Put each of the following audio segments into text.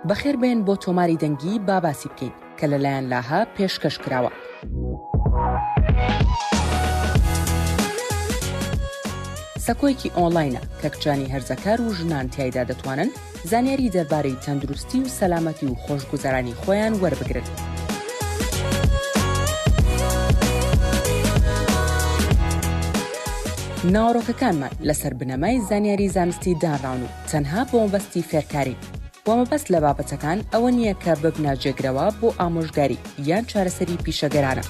بەخێر بێن بۆ تۆماری دەنگی با باسی بکەین کە لەلایەن لاهە پێشکەش کراوە. سەکۆیەکی ئۆنلاینە کە کچانی هەرزەکار و ژنان تایدا دەتوانن زانیاری دەربارەی تەندروستی و سەلامەتی و خۆشگوزەرانی خۆیان وەربگرن. ناوەڕۆکەکانمان لەسەر بنەمای زانیاری زانستی دانراون و تەنها بۆ مەبەستی فێرکارین و مەبەست لە بابەتەکان ئەوە نییە کە ببنە جێگرەوە بۆ ئامۆژگاری یان چارەسەری پیشەگەرانە.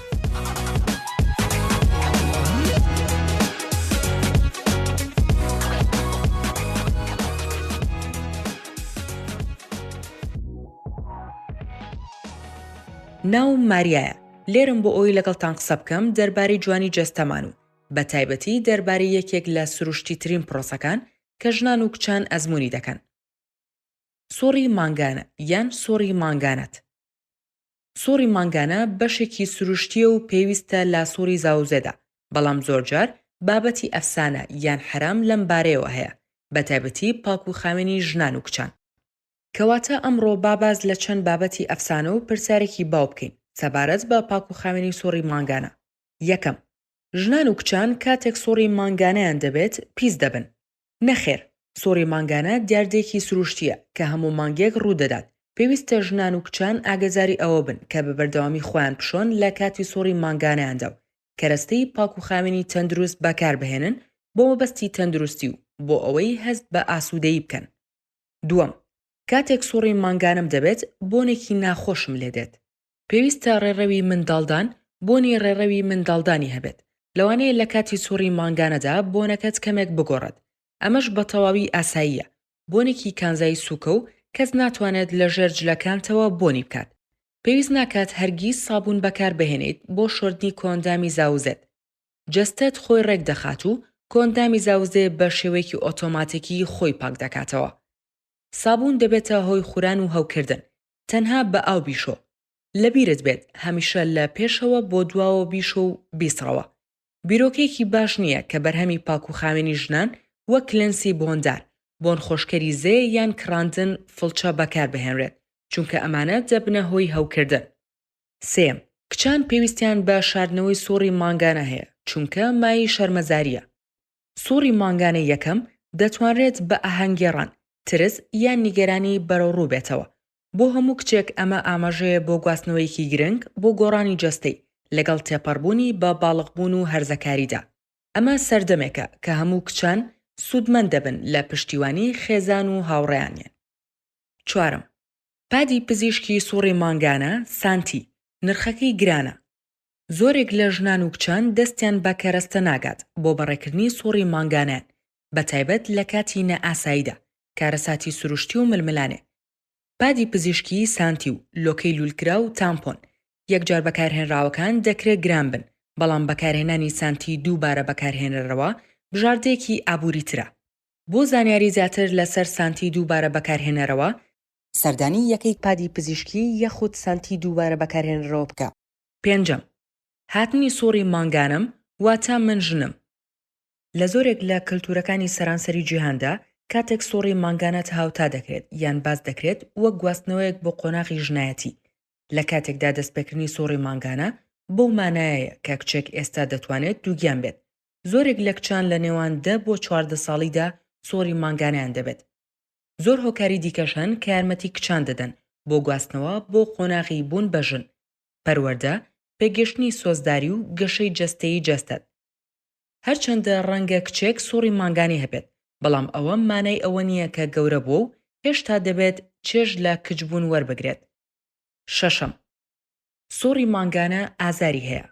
ناوم ماریایە لێرەم بۆ ئەوەی لەگەڵتان قسە بکەم دەربارەی جوانی جەستەمان و بە تایبەتی دەربارەی یەکێک لە سروشتی ترین پرۆسەکان کە ژنان و کچان ئەزمونی دەکەن سوڕی مانگانە یان سوڕی مانگانەت سوڕی مانگانە بەشێکی سروشتیە و پێویستە لە سوڕی زاوزێدا بەڵام زۆرجار بابەتی ئەفسانە یان حرام لەم بارەیەوە هەیە بە تایبەتی پاک و خاوێنی ژنان و کچان کەواتە ئەمڕۆ با باس لە چەند بابەتی ئەفسانە و پرسیارێکی باو بکەین سەبارەت بە پاکوخاوێنی سوڕی مانگانە، یەکەم، ژنان و کچان کاتێک سوڕی مانگانەیان دەبێت پیس دەبن؟ نەخێر، سوڕی مانگانە دیاردەیەکی سروشتییە کە هەموو مانگێک ڕوودەدات، پێویستە ژنان و کچان ئاگەداری ئەوە بن کە بە بەردەوامی خۆیان بشۆن لە کاتی سوڕی مانگانەیاندا و کەرەستەی پاکوخاوێنی تەندروست بەکاربهێنن بۆ مەبەستی تەندروستی و بۆ ئەوەی هەست بە ئاسوودەیی بکەن. دووەم، کاتێک سوڕی مانگانەم دەبێت، بۆنێکی ناخۆشم لێ دێت. پێویستە ڕێڕەوی منداڵدان بۆنی ڕێڕەوی منداڵدانی هەبێت، لەوانەیە لە کاتی سوڕی مانگانەدا بۆنەکەت کەمێک بگۆڕێت، ئەمەش بە تەواوی ئاساییە، بۆنێکی کانزای سووکە و کەس ناتوانێت لە ژێر جلەکانتەوە بۆنی بکات. پێویست ناکات هەرگیز سابوون بەکاربهێنیت بۆ شۆردنی کۆئەندامی زاوزێت. جەستەت خۆی ڕێک دەخات و کۆئەندامی زاوزێ بە شێوەیەکی ئۆتۆماتیکی خۆی پاک دەکاتەوە. سابوون دەبێتە هۆی خوران و هەوکردن، تەنها بە ئاو بیشۆ. لەبیرت بێت هەمیشە لە پێشەوە بۆ دواوە بیشۆ و بیسڕەوە. بیرۆکەیەکی باش نییە کە بەرهەمی پاکوخاوێنی ژنان وەک کلێنسی بۆندار، بۆنخۆشکەری زێ یان کڕاندن فڵچە بەکاربهێنرێت، چونکە ئەمانە دەبنە هۆی هەوکردن. سێیەم، کچان پێویستیان بە شاردنەوەی سوڕی مانگانە هەیە، چونکە مایەی شەرمەزارییە. سوڕی مانگانەی یەکەم دەتوانرێت بە ئاهەنگگێڕان، ترس یان نیگەرانی بەرەوڕوو بێتەوە. بۆ هەموو کچێک ئەمە ئاماژەیە بۆ گواستنەوەیەکی گرنگ بۆ گۆڕانی جەستەی، لەگەڵ تێپەڕبوونی بە باڵغبوون و هەرزەکاریدا. ئەمە سەردەمێکە کە هەموو کچان سوودمەند دەبن لە پشتیوانی خێزان و هاوڕێیانیان. چوارەم، پادی پزیشکی سوڕی مانگانە، سانتی، نرخەکەی گرانە. زۆرێک لە ژنان و کچان دەستیان بە کەرەستە ناگات بۆ بەڕێکردنی سوڕی مانگانەیان، بەتایبەت لە کاتی نائاساییدا، کارەساتی سروشتی و ململانێ. پادی پزیشکی، سانتی، و لۆکەی لوولکراو، تامپۆن، یەکجار بەکارهێنراوەکان دەکرێ گران بن، بەڵام بەکارهێنانی سانتی دووبارە بەکارهێنەرەوە بژاردەیەکی ئابووریترە. بۆ زانیاری زیاتر لەسەر سانتی دووبارە بەکارهێنەرەوە، سەردانی یەکەی پادی پزیشکی یاخود سانتی دووبارە بەکارهێنەرەوە بکە. پێنجەم، هاتنی سوڕی مانگانەم واتە من ژنم. لە زۆرێک لە کەلتورەکانی سەرانسەری جیهاندا کاتێک سوڕی مانگانەت هاوتا دەکرێت یان باس دەکرێت وەک گواستنەوەیەک بۆ قۆناغی ژنایەتی، لە کاتێکدا دەستپێکردنی سوڕی مانگانە بەو مانایەیە کە کچێک ئێستا دەتوانێت دووگیان بێت. زۆرێک لە کچان لە نێوان دە بۆ چواردە ساڵیدا سوڕی مانگانەیان دەبێت. زۆر هۆکاری دیکەش هەن کە یارمەتی کچان دەدەن بۆ گواستنەوە بۆ قۆناغی بوون بە ژن، پەروەردە، پێگەشتنی سۆزداری و گەشەی جەستەیی جەستەت. هەرچەندە ڕەنگە کچێک سوڕی مانگانەی هەبێت، بەڵام ئەوە مانای ئەوە نییە کە گەورە بووە و هێشتا دەبێت چێژ لە کچبوون وەربگرێت. شەشەم. سوڕی مانگانە ئازاری هەیە.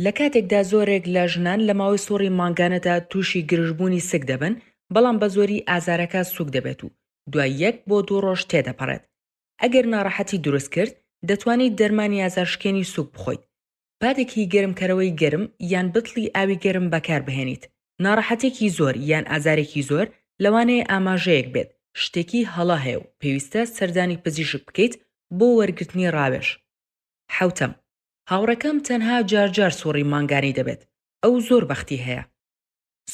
لە کاتێکدا زۆرێک لە ژنان لە ماوەی سوڕی مانگانەدا تووشی گرژبوونی سک دەبن، بەڵام بە زۆری ئازارەکە سووک دەبێت و دوای یەک بۆ دوو ڕۆژ تێدەپەڕێت. ئەگەر ناڕەحەتی دروست کرد، دەتوانیت دەرمانی ئازارشکێنی سووک بخۆیت. پادێکی گەرمکەرەوەی گەرم یان بتڵی ئاوی گەرم بەکاربهێنیت. ناڕەحەتێکی زۆر یان ئازارێکی زۆر لەوانەیە ئاماژەیەک بێت شتێکی هەڵە هەیە و پێویستە سەردانی پزیشک بکەیت بۆ وەرگرتنی ڕاوێژ. حەوتەم. هاوڕێکەم تەنها جار جار سوڕی مانگانەی دەبێت ئەو زۆر بەختی هەیە.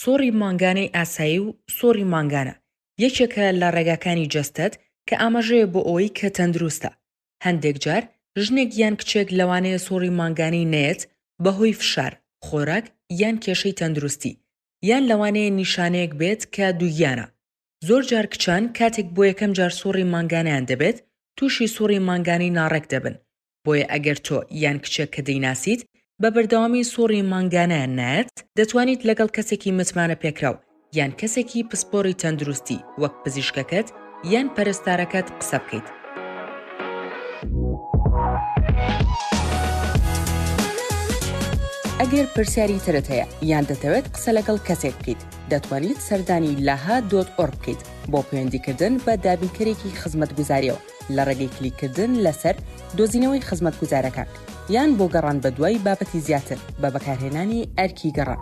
سوڕی مانگانەی ئاسایی و سوڕی مانگانە یەکێکە لە ڕێگاکانی جەستەت کە ئاماژەیە بۆ ئەوەی کە تەندروستە. هەندێک جار ژنێک یان کچێک لەوانەیە سوڕی مانگانەی نەیەت بەهۆی فشار، خۆراک یان کێشەی تەندروستی، یان لەوانەیە نیشانەیەک بێت کە دووگیانە. زۆر جار کچان کاتێک بۆ یەکەم جار سوڕی مانگانەیان دەبێت تووشی سوڕی مانگانەی ناڕێک دەبن بۆیە ئەگەر تۆ یان کچێک کە دەیناسیت بە بەردەوامی سوڕی مانگانەیان نارد، دەتوانیت لەگەڵ کەسێکی متمانەپێکراو یان کەسێکی پسپۆڕی تەندروستی وەک پزیشکەکەت یان پەرستارەکەت قسە بکەیت. ئەگەر پرسیاری ترت هەیە یان دەتەوێت قسە لەگەڵ کەسێک بکەیت، دەتوانیت سەردانی لەها دۆت ئۆڕ بکەیت بۆ پەیوەندیکردن بە دابینکەرێکی خزمەتگوزاریەوە. لە ڕێگەی کلیککردن لەسەر دۆزینەوەی خزمەتگوزارەکان یان بۆ گەڕان بەدوای بابەتی زیاتر بە بەکارهێنانی ئەرکی گەڕان.